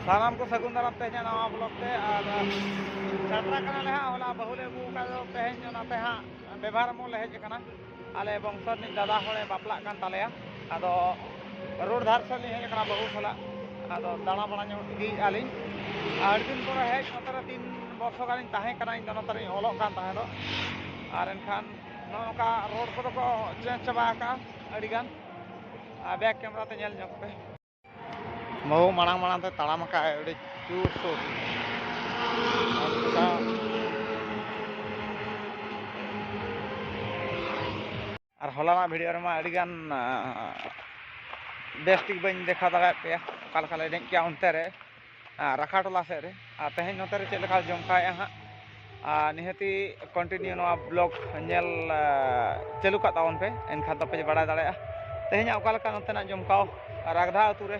ᱥᱟᱱᱟᱢ ᱠᱚ ᱥᱟᱹᱜᱩᱱ ᱫᱟᱨᱟᱢ ᱛᱮᱦᱮᱧᱟᱜ ᱱᱟᱣᱟ ᱵᱞᱚᱜ ᱛᱮ ᱟᱨ ᱥᱮᱴᱮᱨ ᱠᱟᱱᱟᱞᱮ ᱦᱟᱸᱜ ᱦᱚᱞᱟ ᱵᱟᱹᱦᱩ ᱞᱮ ᱟᱹᱜᱩ ᱟᱠᱟᱫ ᱫᱚ ᱛᱮᱦᱮᱧ ᱚᱱᱟᱛᱮ ᱦᱟᱸᱜ ᱵᱮᱵᱷᱟᱨ ᱢᱚᱞ ᱞᱮ ᱦᱮᱡ ᱟᱠᱟᱱᱟ ᱟᱞᱮ ᱵᱚᱝᱥᱚ ᱨᱤᱱᱤᱡ ᱫᱟᱫᱟ ᱦᱚᱲᱮ ᱵᱟᱯᱞᱟᱜ ᱠᱟᱱ ᱛᱟᱞᱮᱭᱟ ᱟᱫᱚ ᱨᱳᱰ ᱫᱷᱟᱨ ᱥᱮᱫ ᱞᱤᱧ ᱦᱮᱡ ᱟᱠᱟᱱᱟ ᱵᱟᱹᱦᱩ ᱥᱟᱞᱟᱜ ᱟᱫᱚ ᱫᱟᱬᱟ ᱵᱟᱲᱟ ᱧᱚᱜ ᱤᱫᱤᱭᱮᱫᱼᱟ ᱞᱤᱧ ᱟᱹᱰᱤ ᱫᱤᱱ ᱯᱚᱨᱮ ᱦᱮᱡ ᱱᱚᱛᱮ ᱨᱮ ᱛᱤᱱ ᱵᱚᱨᱥᱚ ᱜᱟᱱᱤᱧ ᱛᱟᱦᱮᱸ ᱠᱟᱱᱟ ᱤᱧ ᱫᱚ ᱱᱚᱛᱮ ᱨᱤᱧ ᱚᱞᱚᱜ ᱠᱟᱱ ᱛᱟᱦᱮᱸ ᱫᱚᱜ ᱟᱨ ᱮᱱᱠᱷᱟᱱ ᱱᱚᱝᱠᱟ ᱨᱳᱰ ᱠᱚᱫᱚ ᱠᱚ ᱪᱮᱧᱡᱽ ᱪᱟᱵᱟ ᱟᱠᱟᱜᱼᱟ ᱟᱹᱰᱤ ᱜᱟᱱ ᱟᱨ ᱵᱮᱠ ᱠᱮᱢᱮᱨᱟ ᱛᱮ ᱧᱮᱞ ᱧᱚᱜ ᱯᱮ ᱵᱟᱹᱵᱩ ᱢᱟᱲᱟᱝ ᱢᱟᱲᱟᱝ ᱛᱮ ᱛᱟᱲᱟᱢ ᱟᱠᱟᱜᱼᱟᱭ ᱟᱹᱰᱤ ᱡᱳᱨ ᱥᱳᱨ ᱟᱨ ᱦᱚᱞᱟᱱᱟᱜ ᱵᱷᱤᱰᱤᱭᱳ ᱨᱮᱢᱟ ᱟᱹᱰᱤ ᱜᱟᱱ ᱵᱮᱥ ᱴᱷᱤᱠ ᱵᱟᱹᱧ ᱫᱮᱠᱷᱟᱣ ᱫᱟᱲᱮᱭᱟᱜ ᱯᱮᱭᱟ ᱚᱠᱟ ᱞᱮᱠᱟ ᱞᱮ ᱮᱱᱮᱡ ᱠᱮᱜᱼᱟ ᱚᱱᱛᱮ ᱨᱮ ᱨᱟᱠᱷᱟ ᱴᱚᱞᱟ ᱥᱮᱫ ᱨᱮ ᱟᱨ ᱛᱮᱦᱮᱧ ᱱᱚᱛᱮ ᱨᱮ ᱪᱮᱫ ᱞᱮᱠᱟ ᱡᱚᱢᱠᱟᱣᱮᱜᱼᱟ ᱦᱟᱸᱜ ᱟᱨ ᱱᱤᱦᱟᱹᱛᱤ ᱠᱚᱱᱴᱤᱱᱤᱭᱩ ᱱᱚᱣᱟ ᱵᱞᱚᱜᱽ ᱧᱮᱞ ᱪᱟᱹᱞᱩ ᱠᱟᱜ ᱛᱟᱵᱚᱱ ᱯᱮ ᱮᱱᱠᱷᱟᱱ ᱫᱚᱯᱮ ᱵᱟᱲᱟᱭ ᱫᱟᱲᱮᱭᱟᱜᱼᱟ ᱛᱮᱦᱮᱧᱟᱜ ᱚᱠᱟ ᱞᱮᱠᱟ ᱱᱚᱛᱮᱱᱟᱜ ᱡᱚᱢᱠᱟᱣ ᱨᱟᱜᱽᱫᱷᱟ ᱟᱹᱛᱩ ᱨᱮ